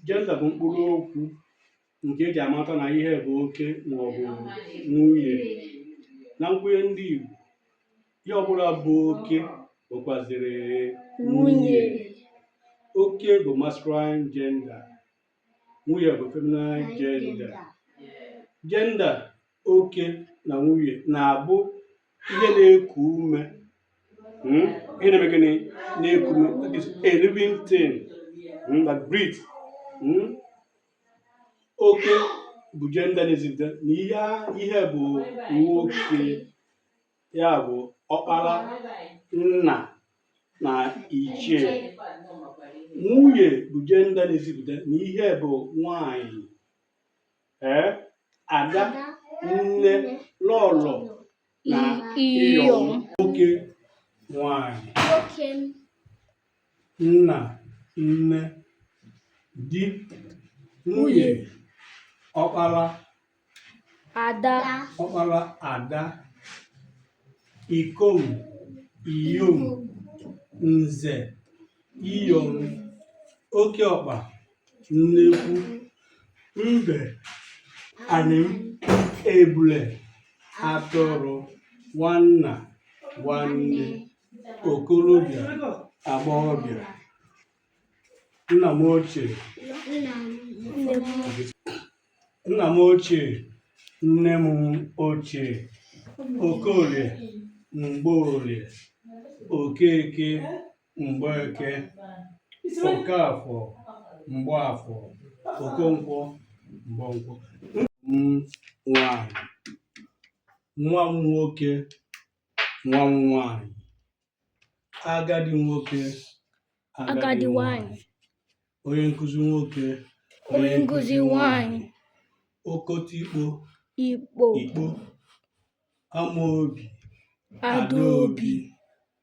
jenda bụ mkpụrụ okwu nke eji amata na ihe bụ oke maọbụ nwunye na nkwenye ndị Igbo ihe ọbụla bụ oke bụkwaziri nwunye oke bụ masculine gender nwunye bụ feminine gender gender oke na nwunye na-abụ ihe na-eku ume hmm? ihe na-eme gịnị na-eku ume that is a living thing hmm, that breathe hmm? oke bụ jenda na-ezipụta na ihe bụ nwoke ya bụ ọkpara nna na ichie nwunye bụ jenda na-ezipụta na ihe bụ nwanyị ee ada nne lọlọ na iyom nwoke nwanyị nna nne di nwunye ọkpara ada ọkpara ada ikom iyom nze iyom oke ọkpa nnekwu mbe anịm ebule atụrụ nwanna nwanne okorobịa agbọghọbịa nna m ochie nne m ochie okorie mgborie okeke Mgbeke, Okafọ, Mgbafọ, Okonkwọ, Mgbọnkwọ. Nwanyị, nwa m nwoke, nwa m nwanyị, agadi nwoke, agadi nwanyị, onye nkụzi nwoke, onye nkụzi nwanyị, okotikpo, ikpo, ikpo, amaobi, adaobi.